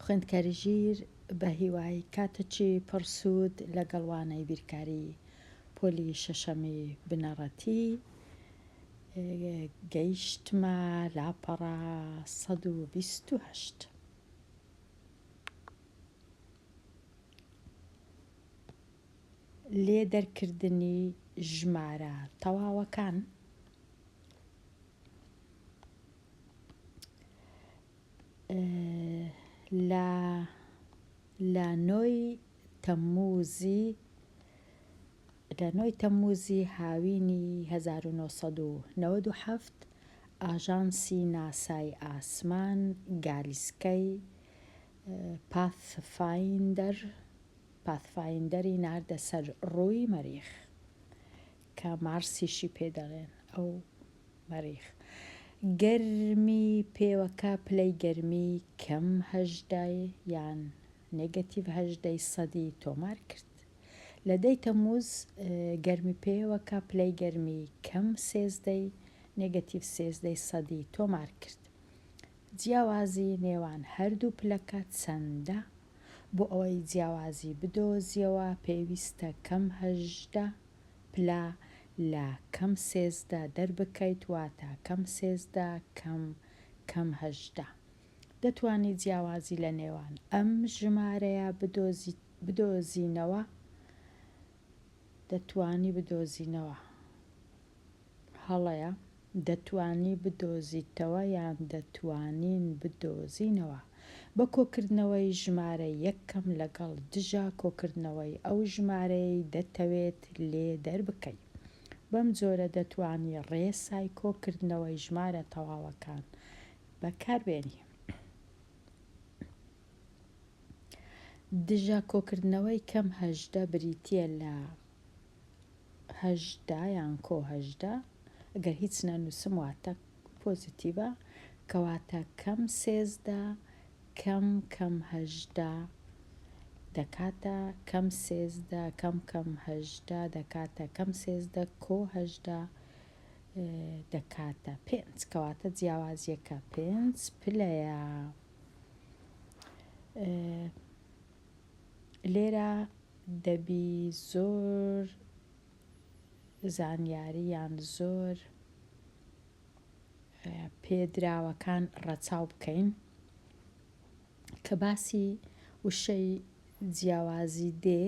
خوێندکاری ژیر بە هیوای کاتچی پڕ سوود لەگەڵ وانەی بیرکاری پۆلی شەشەمی بنەڕەتی گەیشتمە لاپەڕە سەد و بیست و هەشت لێ دەرکردنی ژمارە تەواوەکان لە لە نۆی تەموزی لە نۆی تەموزی هاوینی 1997 ئاژانسی ناسای ئاسمان گالیسکەی پاث فایندەر پاثفایندەری ناردە سەر ڕووی مەریخ کە مارسیشی پێ دەڵێن ئەو مەریخ گەرمی پێوەکە پلەی گەرمی کەم هەژدە یان نێگەتیڤ هەژدە ی سەدی تۆمار کرد لە دەی تەمووز گەرمی پێوەکە پلەی گەرمی کەم سێزدە ی نێگەتیڤ سێزدە ی سەدی تۆمار کرد جیاوازی نێوان هەردوو پلەکە چەندە؟ بۆ ئەوەی جیاوازی بدۆزیەوە پێویستە کەم هەژدە پلە لە کەم سێزدە دەربکەیت واتە کەم سێزدە کەم کەم هەژدە دەتوانی جیاوازی لە نێوان ئەم ژمارەیە بدۆزینەوە دەتوانی بدۆزینەوە. هەڵەیە، دەتوانی بدۆزیتەوە یان دەتوانین بدۆزینەوە، بە کۆکردنەوەی ژمارە یەک کەم لەگەڵ دژە کۆکردنەوەی ئەو ژمارەیەی دەتەوێت لێ دەربکەی. بەم جۆرە دەتوانی ڕێسای کۆکردنەوەی ژمارە تەواوەکان بەکاربێنی. دژە کۆکردنەوەی کەم هەژدە بریتییە لە هەژدە یان کۆ هەژدە گەر هیچ نەنووسم واتە پۆزیتیڤە کەواتە کەم سێزدە کەم کەم هەژدە دەکاتە کەم سێزدە کەم کەم هەژدە دەکاتە کەم سێزدە کۆ هەژدە دەکاتە پێنج کەواتە جیاوازیەکە پێنج پلەیە لێرە دەبی زۆر زانیارییان زۆر پێدراوەکان ڕەچاو بکەین کە باسی وشەی جیاوازی دێ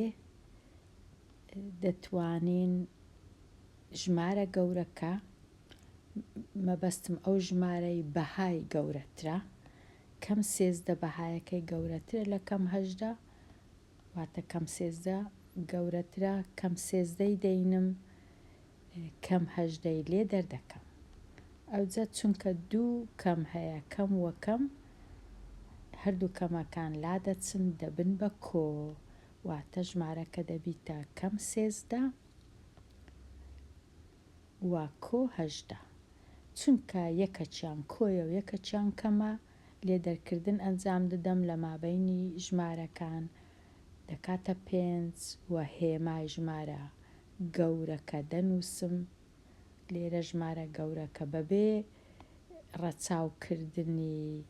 دەتوانین ژمارە گەورەکە مەبەستم ئەو ژمارەی بەهای گەورەترە کەم سێزدە بەهایەکەی گەورەترە لە کەم هەژدە واتە کەم سێزدە گەورەترە کەم سێزدەی دەینم کەم هەژدەی لێ دەردەکەم ئەوجە چونکە دوو کەم هەیە کەم وەکەم هەردوو کەمەکان لا دەچن دەبن بە کۆ واتە ژمارەکە دەبیتە کەم سێزدە و کۆ هەژدە، چونکە یەکەکیان کۆیە و یەکەکیان کەمە، لێ دەرکردن ئەنجام ددەم لە مابەینی ژمارەکان دەکاتە پێنج و هێمای ژمارە گەورەکە دەنووسم، لێرە ژمارە گەورەکە بەبێ ڕەچاو کردنی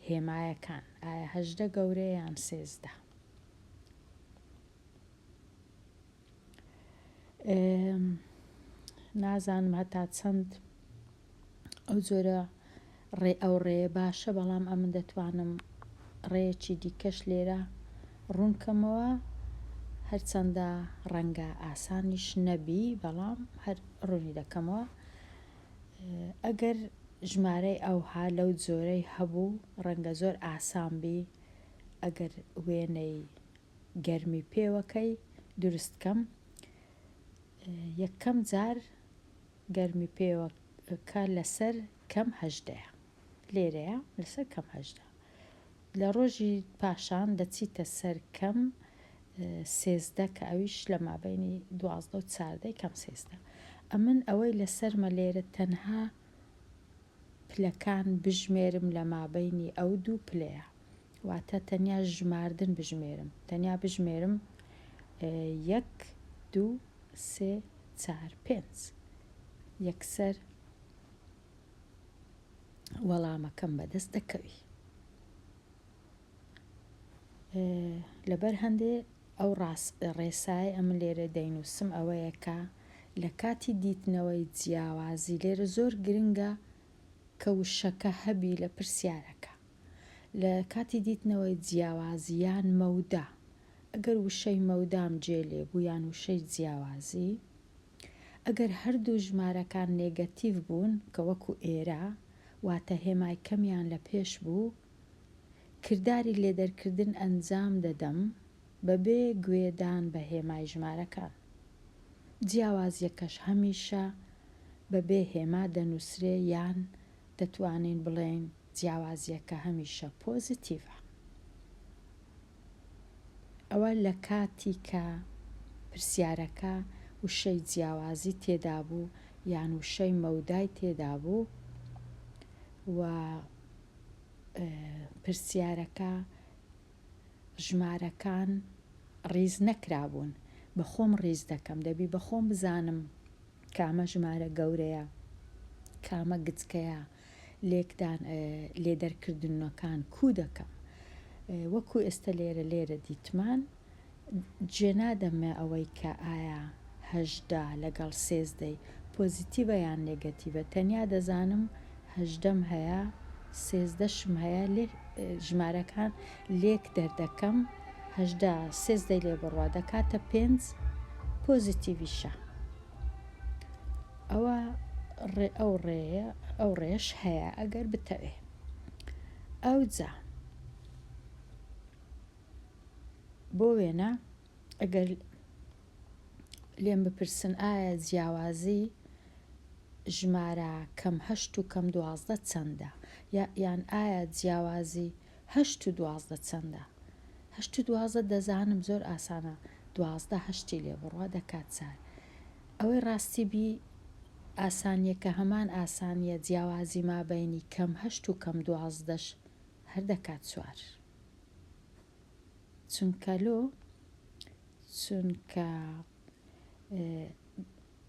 هێمایەکان، ئایا هەژدە گەورەیە یان سێزدە؟ نازانم هەتا چەند ئەو جۆرە ڕێ ئەو ڕێە باشە بەڵام ئەمن دەتوانم ڕێیەکی دیکەش لێرە ڕوونکەمەوە هەرچەندە ڕەنگە ئاسانیش نەبی بەڵام هەر ڕوونی دەکەمەوە ئەگەر ژمارەی ئەوها لەو جۆرەی هەبوو ڕەنگە زۆر ئاسان بی ئەگەر وێنەی گەرمی پێوەکەی دروست کەم یەکەم جار گەرمی پێوەکە لەسەر کەم هەژدەیە لێرەیە لەسەر کەم هەژدە لە ڕۆژی پاشان دەچیتە سەر کەم سێزدە کە ئەویش لە مابینی دوازدە و چاردەی کەم سێزدە ئەمن ئەوەی لەسەرمە لێرە تەنها پلەکان بژمێرم لە مابینی ئەو دوو پلەیە واتە تەنیا ژماردن بژمێرم تەنیا بژمێرم یەک دوو سێ چار پێنج یەکسەر وەڵامەکەم بەدەست دەکەوی لەبەر هەندێ ئەو ڕێسای ئەم لێرە دەینووسم ئەوەیە کە لە کاتی دیتنەوەی جیاوازی لێرە زۆر گرنگە کە وشەکە هەبی لە پرسیارەکە لە کاتی دیتنەوەی جیاوازییان مەودا، ئەگەر وشەی مەودام جێ لێ بوو یان وشەی جیاوازی، ئەگەر هەردوو ژمارەکان نێگەتیڤ بوون کە وەکوو ئێرە، واتە هێمای کەمیان لە پێش بوو، کرداری لێدەرکردن ئەنجام دەدەم بەبێ گوێدان بە هێمای ژمارەکان. جیاوازییەکەش هەمیشە بەبێ هێما دەنووسرێ یان دەتوانین بڵێین. جیاوازیەکە هەمیشە پۆزیتیڤە ئەوە لەکاتی کە پرسیارەکە وشەی جیاوازی تێدابوو یان وشەی مەودای تێدابوو و پرسیارەکە ژمارەکان ڕیز نەکرابوون بەخۆم ڕیز دەکەم دەبی بەخۆم بزانم کامە ژمارە گەورەیە کامە گچکەیە لێکدان لێدەرکردننەکان کوو دەکەم وەکوو ئێستا لێرە لێرە دیتمان جێ نادەمێ ئەوەی کە ئایا هەژدە لەگەڵ سێزدەی پۆزیتیڤە یان نێگەتیڤە تەنیا دەزانم هەژدەم هەیە سێزدەشم هەیە لێک ژمارەکان لێک دەردەکەم هەژدە سێزدەی لێ بڕوا دەکاتە پێنج پۆزیتیڤیشە ئەوا ڕێ ئەو ڕێیە ئەو ڕێش هەیە ئەگەر بتەوێ ئەوجا بۆ وێنە ئەگەر لێم بپرسن ئایا جیاوازی ژمارە کەم هەشت و کەم دوازدە چەندە یان ئایا جیاوازی هەشت و دوازدە چەندە؟ هەشت و دوازدە دەزانم زۆر ئاسانە دوازدە هەشتی لێ بڕە دەکات چار ئەوەی ڕاستی بی ئاسانیەکە هەمان ئاسانیە جیاوازی مابەینی کەم هەشت و کەم دوازدەش هەر دەکات چوار چونکە لۆ چونکە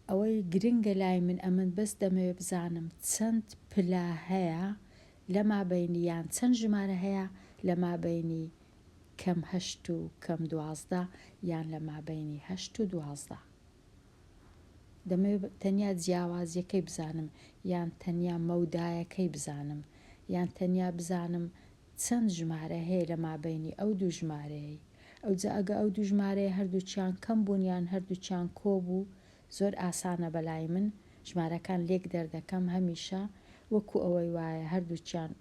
ئەوەی گرنگە لای من ئەمن بەس دەمەوێ بزانم چەند پلا هەیە لە مابەینی یان چەند ژمارە هەیە لە مابەینی کەم هەشت و کەم دوازدە یان لە مابەینی هەشت و دوازدە؟ دەمەوێت تەنیا جیاوازییەکەی بزانم یان تەنیا مەودایەکەی بزانم یان تەنیا بزانم چەند ژمارە هەیە لە مابەینی ئەو دوو ژمارەیەی؟ ئەوجا ئەگە ئەو دوو ژمارەیە هەردووکیان کەم بوون یان هەردووکیان کۆ بوو زۆر ئاسانە بەلای من ژمارەکان لێک دەردەکەم هەمیشە وەکو ئەوەی وایە هەردووکیان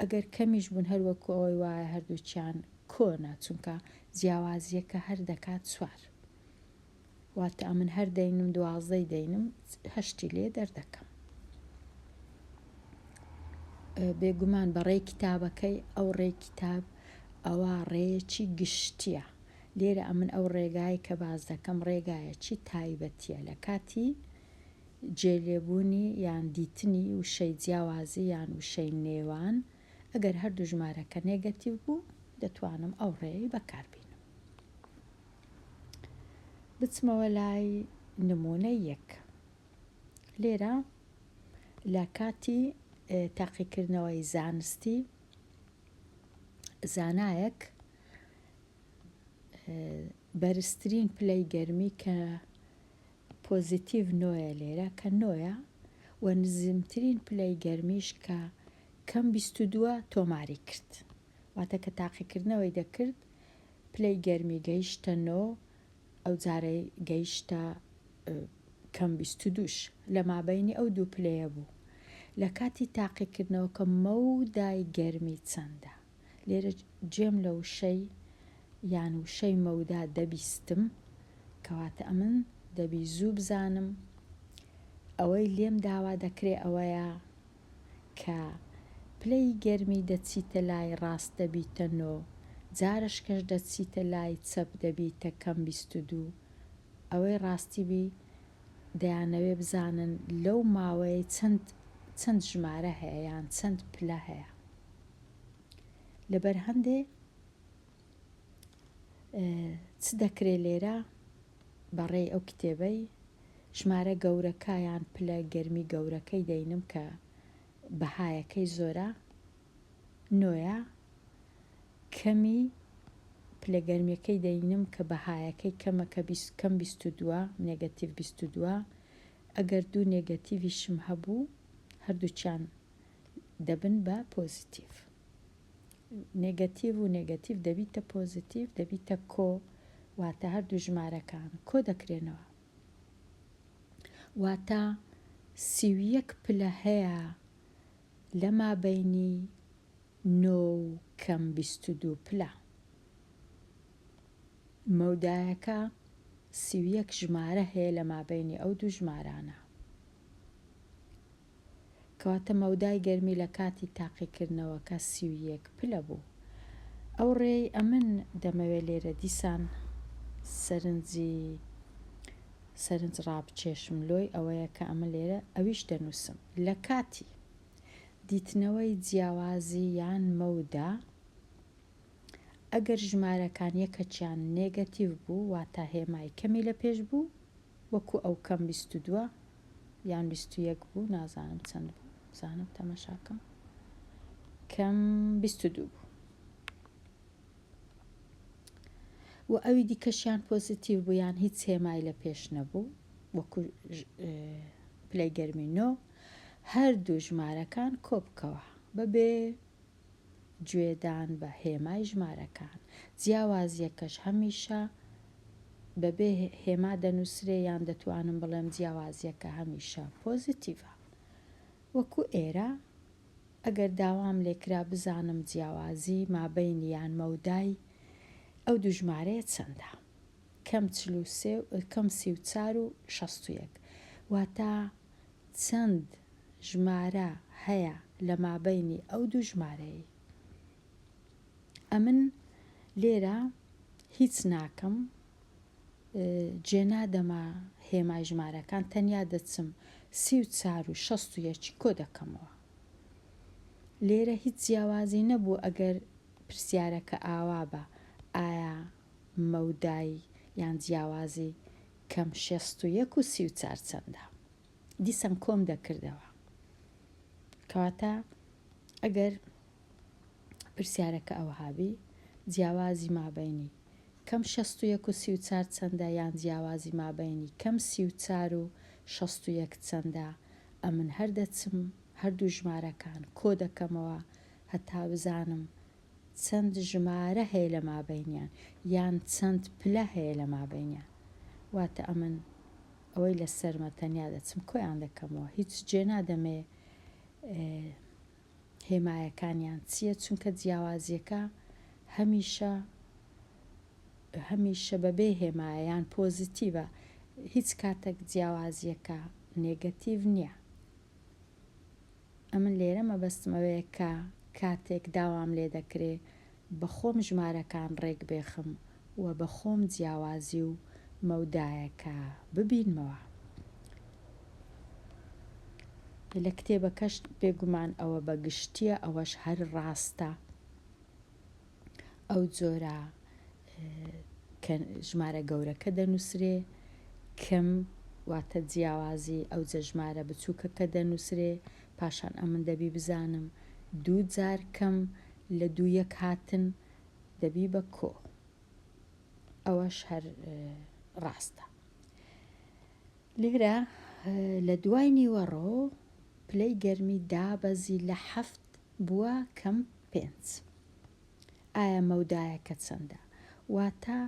ئەگەر کەمیش بوون هەر وەکو ئەوەی وایە هەردووکیان کۆنە چونکە جیاوازیەکە هەر دەکات چوار واتە ئەمن هەر دەینم دوازدەی دەینم هەشتی لێ دەردەکەم بێگومان بەڕێی کتابەکەی ئەو ڕێی کتاب ئەوە ڕێیەکی گشتیە لێرە ئەمن ئەو ڕێگای کە باس دەکەم ڕێگایە چی تایبەتیە لە کاتی جێ لێبوونی یان دیتنی وشەی جیاوازی یان وشەی نێوان ئەگەر هەردوو ژمارەکە نێگەتیڤ بوو دەتوانم ئەو ڕێیەی بەکار بینم بچمەوە لای نمونە یەک لێرە لە کاتی تاقیکردنەوەی زانستی زانایەک بەرزترین پلەی گەرمی کە پۆزیتیڤ نۆیە لێرە کە نۆیە و نزمترین پلەی گەرمیش کە کەم بیست و دووە تۆماری کرد واتە کە تاقیکردنەوەی دەکرد پلەی گەرمی گەیشتە نۆ ئەو جارەی گەیشتە کەم بیست و دووش لە مابینی ئەو دوو پلەیە بوو لە کاتی تاقیکردنەوە کە مەودای گەرمی چەندە لێرە جێم لە وشەی یان وشەی مەودا دەبیستم، کەواتە ئەمن دەبی زوو بزانم، ئەوەی لێم داوا دەکرێ ئەوەیە کە پلەی گەرمی دەچیتە لای ڕاست دەبیتە نۆ، جارەشکەش دەچیتە لای چەپ دەبیتە کەم بیست و دوو، ئەوەی ڕاستی بی دەیانەوێ بزانن لەو ماوەیەی چەند چەند ژمارە هەیە یان چەند پلە هەیە لەبەر هەندێ چ دەکرێ لێرە بەڕێی ئەو کتێبەی ژمارە گەورەکە یان پلە گەرمی گەورەکەی دەینم کە بەهایەکەی زۆرە نۆیە کەمی پلە گەرمیەکەی دەینم کە بەهایەکەی کەمە کە بیست کەم بیست و دووە نێگەتیڤ بیست و دووە ئەگەر دوو نێگەتیڤیشم هەبوو هەردووکیان دەبن بە پۆزیتیڤ نێگەتیڤ و نێگەتیڤ دەبیتە پۆزیتیڤ دەبیتە کۆ واتە هەردوو ژمارەکان کۆ دەکرێنەوە واتە سیویەک پلە هەیە لە مابەینی نۆ و کەم بیست و دوو پلە. مەودایەکە سی و یەک ژمارە هەیە لە مابەینی ئەو دوو ژمارانە. کەواتە مەودای گەرمی لە کاتی تاقیکردنەوەکە سی و یەک پلە بوو. ئەو ڕێی ئەمن دەمەوێ لێرە دیسان سەرنجی سەرنج ڕابکێشم لۆی ئەوەیە کە ئەمە لێرە ئەویش دەنووسم لە کاتی دیتنەوەی جیاوازی یان مەودا ئەگەر ژمارەکان یەکەکیان نێگەتیڤ بوو واتا هێمای کەمی لە پێش بوو وەکو ئەو کەم بیست و دووە یان بیست و یەک بوو نازانم چەند بوو بزانم تەمەشاکەم کەم بیست و دوو بوو و ئەوی دیکەشیان پۆزیتیڤ بوو یان هیچ هێمای لە پێش نەبوو وەکو پلەی گەرمی نۆ هەردوو ژمارەکان کۆبکەوە بەبێ گوێدان بە هێمای ژمارەکان جیاوازیەکەش هەمیشە بەبێ هێما دەنووسرێ یان دەتوانم بڵێم جیاوازیەکە هەمیشە پۆزیتیڤە وەکو ئێرە ئەگەر داوام لێکرا بزانم جیاوازی مابەینی یان مەودای ئەو دوو ژمارەیە چەندە؟ کەم چل و سێ و کەم سی و چار و شەست و یەک واتە چەند ژمارە هەیە لە مابەینی ئەو دوو ژمارەیەی؟ ئەمن لێرە هیچ ناکەم جێنادەمە هێمای ژمارەکان تەنیا دەچم سی و چار و شەست و یەکی کۆدەکەمەوە لێرە هیچ جیاوازی نەبوو ئەگەر پرسیارەکە ئاوابە ئایا مەودای یان جیاوازی کەم شەست و یەک و سی و چار چەندە دیسان کۆم دەکردەوە کەواتە ئەگەر پرسیارەکە ئەوهابی جیاوازی مابینی کەم شەست و یەک و سی و چار چەندە یان جیاوازی مابەینی کەم سی و چار و شەست و یەک چەندە ئەمن هەر دەچم هەردوو ژمارەکان کۆ دەکەمەوە هەتا بزانم چەند ژمارە هەیە لە مابەینیان یان چەند پلە هەیە لە مابەینیان واتە ئەمن ئەوەی لەسەرمە تەنیا دەچم کۆیان دەکەمەوە هیچ جێ نادەمێ هێمایەکانیان چیە چونکە جیاوازیەکە هەمیشە هەمیشە بەبێ هێمایە یان پۆزیتیڤە هیچ کاتەک جیاوازیەکە نێگەتیڤ نیە ئەمن لێرە مەبەستمەوەیە کە کاتێک داوام لێ دەکرێ بە خۆم ژمارەکان ڕێک بێخم و بە خۆم جیاوازی و مەودایەکە ببینمەوە. لە کتێبەکەش بێگومان ئەوە بە گشتییە، ئەوەش هەر ڕاستە، ئەو جۆرە کە ژمارە گەورەکە دەنووسرێ، کم، واتە جیاوازی، ئەوجە ژمارە بچووکەکە دەنووسرێ، پاشان ئەمن دەبی بزانم دوو جار کم لە دوو یەک هاتن دەبی بە کۆ ئەوەش هەر ڕاستە لێرە لە دوای نیوەڕۆ پلەی گەرمی دابەزی لە حەفت بووە کەم پێنج ئایا مەودایەکە چەندە واتە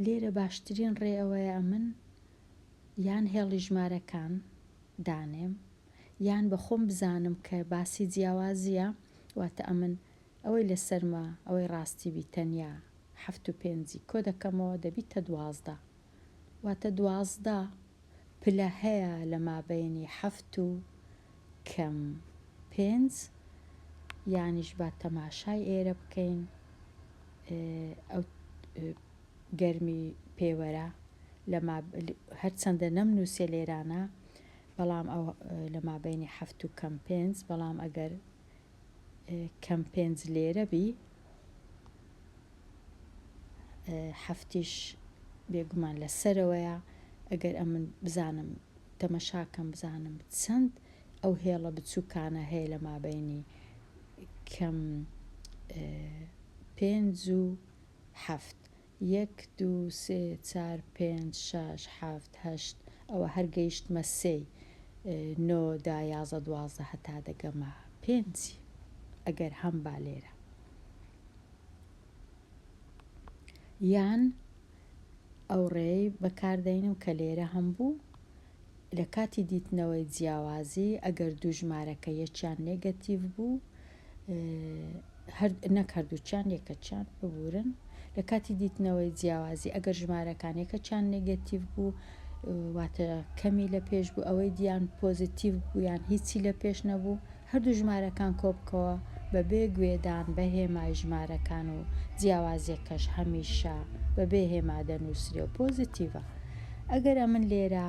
لێرە باشترین ڕێ ئەوەیە ئەمن یان هێڵی ژمارەکان دانێم یان بە خۆم بزانم کە باسی جیاوازیە واتە ئەمن ئەوەی لەسەرمە ئەوەی ڕاستی بی تەنیا حەفت و پێنجی کۆ دەکەمەوە دەبیتە دوازدە واتە دوازدە پلە هەیە لە مابەینی حەفت و کەم پێنج یانیش با تەماشای ئێرە بکەین ئەو گەرمی پێوەرە لەما هەرچەندە نەم نووسێ لێرانە بەڵام ئەو لە مابینی حەفت و کەم پێنج بەڵام ئەگەر کەم پێنج لێرە بی هەفتیش بێگومان لە سەرەوەیە ئەگەر ئەمن بزانم تەمەشاکەم بزانم چەند ئەو هێڵە بچووکانە هەیە لە مابینی کەم پێنج و هەفت یەک دوو سێ چار پێنج شاش حەفت هەشت ئەوە هەر گەیشتمە سێی نۆ دا یازە دوازدە هەتا دەگەمە پێنجی ئەگەر هەم با لێرە یان ئەو ڕێی بەکاردەینم کە لێرە هەم بوو لە کاتی دیتنەوەی جیاوازی ئەگەر دوو ژمارەکە یەکیان نێگەتیڤ بوو نەک هەردووکیان یەکەکیان ببورن لە کاتی دیتنەوەی جیاوازی ئەگەر ژمارەکان یەکەکیان نێگەتیڤ بوو واتە کەمی لە پێش بوو ئەوەی دییان پۆزیتیڤ بوویان هیچی لە پێش نەبوو هەردوو ژمارەکان کۆبکەوە بەبێ گوێدان بە هێمای ژمارەکان و جیاوازیەکەش هەمیشە بەبێ هێما دەنوسرێ و پۆزیتیڤە ئەگەر ئەمن لێرە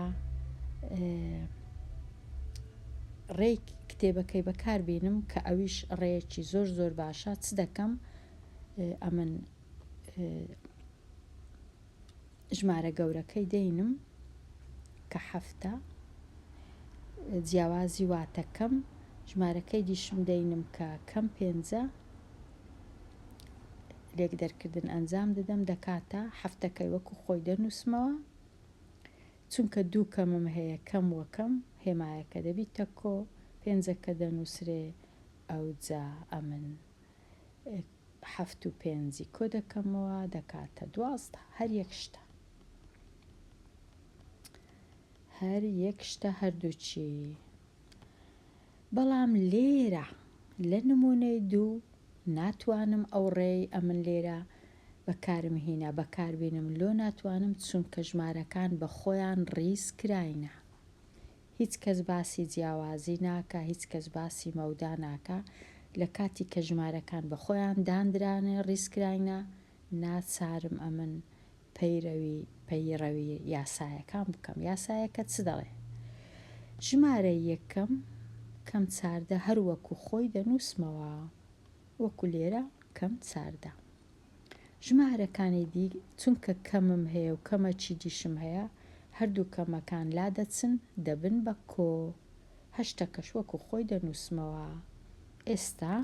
ڕێی کتێبەکەی بەکار بینم کە ئەویش ڕێیەکی زۆر زۆر باشە چ دەکەم ئەمن ژمارە گەورەکەی دەینم کە حەفتە جیاوازی واتە کەم ژمارەکەی دیشم دەینم کە کەم پێنجە لێک دەرکردن ئەنجام دەدەم دەکاتە حەفتەکەی وەکو خۆی دەنووسمەوە چونکە دوو کەمم هەیە کەم وەکەم هێمایەکە دەبی تەکۆ پێنجەکە دەنووسرێ ئەوجا ئەمن حەفت و پێنجی کۆ دەکەمەوە دەکاتە دوازدە هەر یەک شتە هەر یەک شتە هەردووچی بەڵام لێرە لە نمونەی دوو ناتوانم ئەو ڕێی ئەمن لێرە بەکارم هینا بەکاربینم لۆ ناتوانم چونکە ژمارەکان بە خۆیان ڕیز کراینە هیچ کەس باسی جیاوازی ناکا، هیچ کەس باسی مەودا ناکا، لە کاتی کە ژمارەکان بە خۆیان داندرانێ ڕیزکراینە، ناچارم ئەمن پەیرەوی پەیڕەوی یاسایەکان بکەم، یاسایەکە چ دەڵێ؟ ژمارە یەکەم کەم چاردە هەر وەکوو خۆی دەنووسمەوە، وەکوو لێرە کەم چاردە. ژمارەکانی دی چونکە کەمم هەیە و کەمە چیدیشم هەیە هەردوو کەمەکان لادەچن دەبن بە کۆ هەشتەکەش وەکو خۆی دەنوسمەوە ئێستا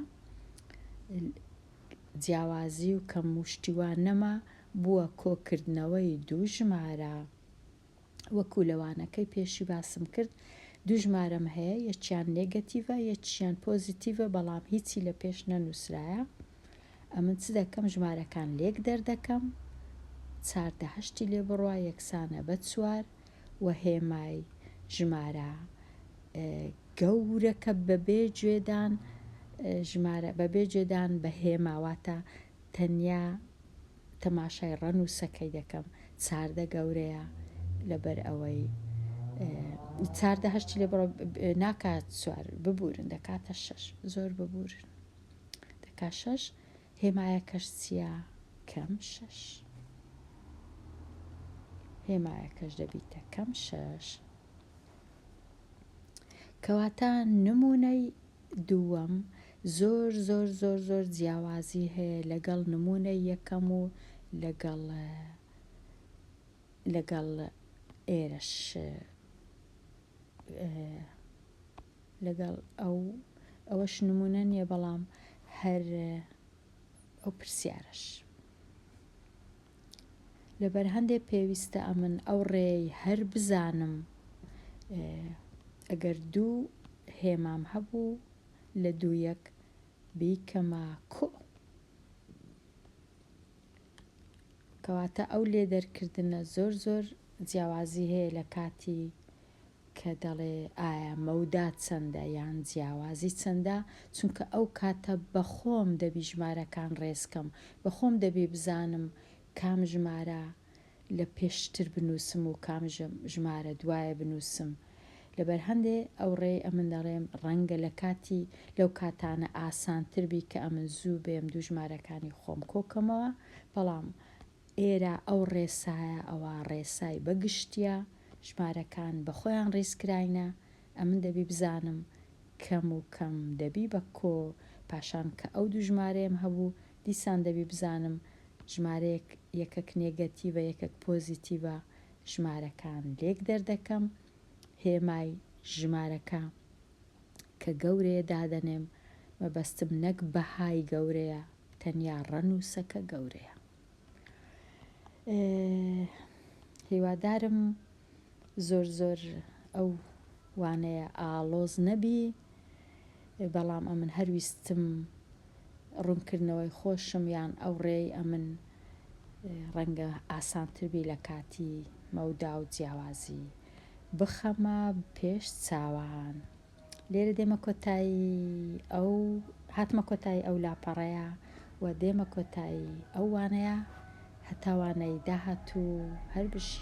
جیاوازی و کەم و شتی وا نەما بووە کۆکردنەوەی دوو ژمارە. وەکو لە وانەکەی پێشی باسم کرد دوو ژمارەم هەیە یەکیان نێگەتیڤە یەکیان پۆزیتیڤە بەڵام هیچی لە پێش نەنووسرایە ئەمن چ دەکەم ژمارەکان لێک دەردەکەم چار دە هەشتی لێ بڕوا یەکسانە بە چوار و هێمای ژمارە گەورەکە بەبێ جوێدان ژمارە بەبێ جێدان بە هێماواتە تەنیا تەماشای ڕەنووسەکەی دەکەم چاردە گەورەیە لەبەر ئەوەی چاردە هەشتی لێ بڕۆ ناکات سوار ببورن دەکاتە شەش زۆر ببورن دەکات شەش هێمایە کەش چییە کەم شەش هێمایە کەش دەبیتە کەم شەش کەواتە نمونەی دووەم، زۆر زۆر زۆر زۆر جیاوازی هەیە لەگەڵ نموونەی یەکەم و لەگەڵ لەگەڵ ئێرەش لەگەڵ ئەو ئەوەش نموونە نییە بەڵام هەر ئەو پرسیارەش. لەبەر هەندێ پێویستە ئەمن ئەو ڕێی هەر بزانم ئەگەر دوو هێمام هەبوو لە دوو یەک بیکەمە کو کەواتە ئەو لێ دەرکردنە زۆر زۆر جیاوازی هەیە لە کاتی کە دەڵێ ئایا مەودا چەندە یان جیاوازی چەندە، چونکە ئەو کاتە بەخۆم دەبی ژمارەکان ڕێز کەم، بەخۆم دەبی بزانم کام ژمارە لە پێشتر بنووسم و کام ژمارە دوایە بنووسم، لەبەر هەندێ ئەوڕێی ئەمن دەڵێم ڕەنگە لە کاتی لەو کاتانە ئاسانتر بی کە ئەمن زوو بێم دوو ژمارەکانی خۆم کۆ کەمەوە، بەڵام. ئێرە ئەو ڕێسایە ئەوە ڕێسای بە گشتیە، ژمارەکان بە خۆیان ڕیزکراینە، ئەمن دەبی بزانم کەم و کەم دەبی بە کۆ، پاشان کە ئەو دوو ژمارەیەم هەبوو، دیسان دەبی بزانم ژمارەیەک یەکەک نێگەتیڤە یەکەک پۆزیتیڤە، ژمارەکان لێک دەردەکەم، هێمای ژمارەکە کە گەورەیە دادەنێم، مەبەستم نەک بەهای گەورەیە، تەنیا ڕەنووسەکە گەورەیە. هیوادارم زۆر زۆر ئەو وانەیە ئاڵۆز نەبی بەڵام ئەمن هەرویستم ڕوونکردنەوەی خۆشم یان ئەو ڕێی ئەمن ڕەنگە ئاسانتربی لە کاتی مەودا و جیاوازی بخەمە پێش چاوان. لێرە دێمە کۆتایی ئەو هاتمە کۆتایی ئەو لاپەڕەیە و دێمە کۆتایی ئەو وانەیە هەتاوانەی داهاتوو هەر بژی